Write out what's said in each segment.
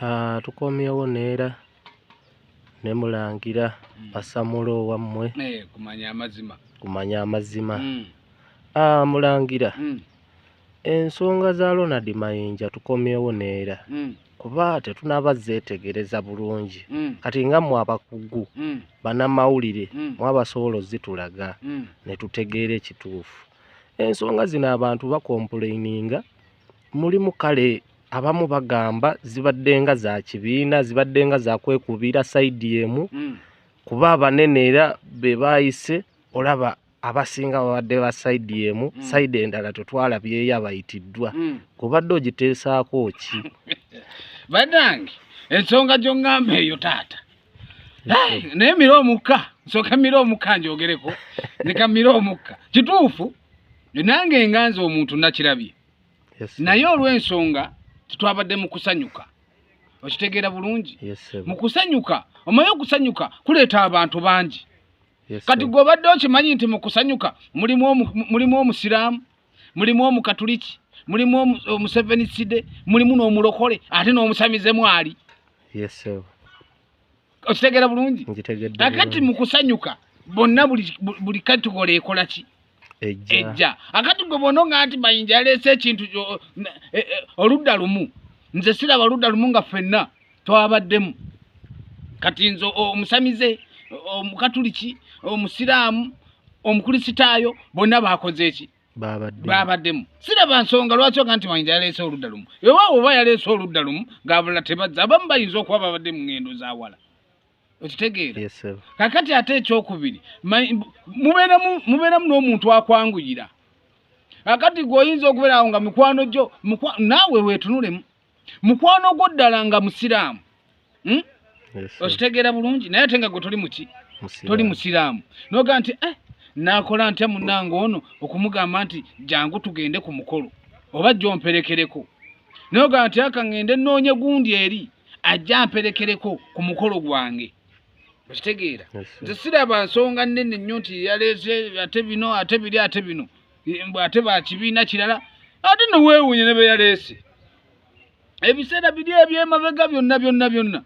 Ah, tukomyewo neera ne mulangira Mm. basamula owammwe Eh, kumanya amazima kumanya amazima Mm, Ah, mulangira mm, ensonga za ronald mayinja tukomyewo neera mm, kuba tetunaba zeetegereza bulungi mm, kati nga mwe abakugu mm, banamawulire mm, mwabasobola ozitulaga mm. ne tutegeera ekituufu ensonga zino abantu bakompuleininga mulimu kale abamu bagamba zibadde nga za kibiina zibadde nga za kwekubiira sayidi emu mm. kuba abanene era be baayise olaba abasinga babadde ba sayidi emu mm. sayidi endala tetwala byeyo abayitiddwa mm. kubadde ogiteesaako ki banange ensonga gyongamba eyo taata naye mira omukka nsooka mira omukka njogereko nika mira omukka kituufu nange enganza omuntu nakirabye naye olw'ensonga tetwabadde mu kusanyuka okitegeera bulungi mu kusanyuka omanyi okusanyuka kuleeta abantu bangi kati gwe obadde okimanyi nti mu kusanyuka mulimu omusiraamu mulimu omukatuliki mulimu omuseveni side mulimu n'omulokole ate n'omusamize mwali okitegeera bulungi akati mu kusanyuka bonna buli katugole ekolaki ejja akati gwe bona nga nti mayinja yaleese ekintu e, e, oludda lumu nze siraba oludda lumu nga ffenna twabaddemu kati nze omusamize omukatuliki omusiraamu omukulisitaayo bonna bakoze eki babaddemu siraba nsonga lwaki oga nti mayinja yaleese oludda lumu ewaawo oba yaleese oludda lumu ngabula tebazza abamu bayinza okuba babadde mu ŋŋendo zawala okitegeera yes, sir. kakati ate ekyokubiri ma- mbu- mubeeremu mubeeremu n'omuntu akwanguyira kakati gwe oyinza okubeera awo nga mikwano gyo mukwa- naawe weetunulemu mukwano gwo ddala nga musiraamu Hmm? Yes, sir. okitegeera bulungi naye ate nga gwe toli muki Musiraamu. toli musiraamu nogaa nti eh, nakola ntya munange ono okumugamba nti jangu tugende ku mukolo oba jomperekereko nogaa nti aka ngende noonye gundi eri ajja amperekereko ku mukolo gwange okitegeera nze siraba nsonga nnene nnyo nti yaleese ate bino ate biri ate bino mbu ate bakibiina kirala ate neweewunye ne beyaleese ebiseera biri ebyemabega byonna byonna byonna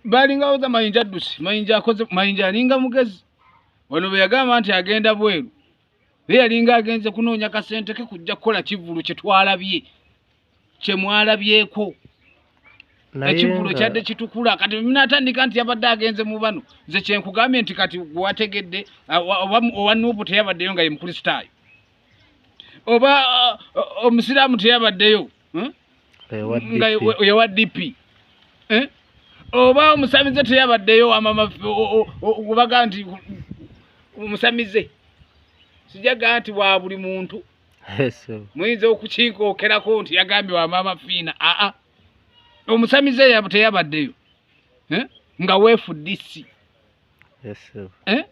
balinga oza mayinja addusi mayinja akoze mayinja alinga mugezi wano bwe yagamba nti agenda bweru ye yalinga agenze kunoonya kasente ke kujja kukola kivulu kye twalabye kyemwalabyeko ekivulo kyadde kitukula kati minatandika nti yabadde agenze mu bano nze kyenkugambye nti kati wategedde owa nuubu teyabaddeyo nga ye mukristaayo oba omusiraamu teyabaddeyo hmm? nga yewa dp eh? oba omusamize teyabaddeyo amamaobaga nti omusamize sijaga nti wa buli muntu muyinza okukinkookerako nti yagambye wa maama fiina aa omusamize teyabaddeyo eh? nga weefudisi eh?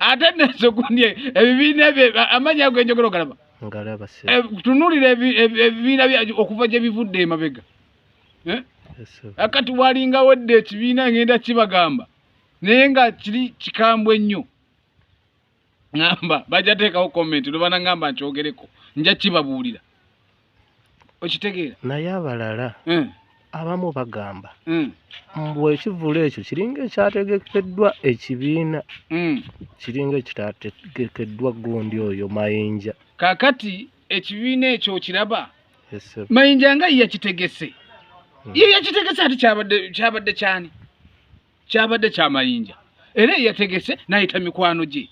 ate nezo gundi ebibiina ebyo amanyi ago enjogera ogalaba eh, tunulira ebibiina okuva gye bivudde emabega akati walinga wedde ekibiina ngenda kibagamba naye nga kiri kikambwe nnyo ŋamba bajja teekawo comment lubana ŋamba nkyogereko nja kibabuulira okitegeera naye abalala hmm. abamu bagamba hmm. mbu ekivulu ekyo kiringa ekyategekeddwa ekibiina hmm. kiringa ekitategekeddwa gundi oyo mayinja kakati ekibiina ekyo okiraba mayinja nga yakitegese ye yakitegese ati kyabadde kyani kyabadde kyamayinja era eyategese nayita mikwano gye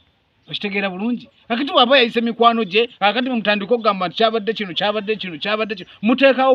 okitegeera bulungi kakati waba yayise mikwano gye kakati mumutandika okugamba nti kyabadde kino kyabadde kino kyabadde kino muteekawo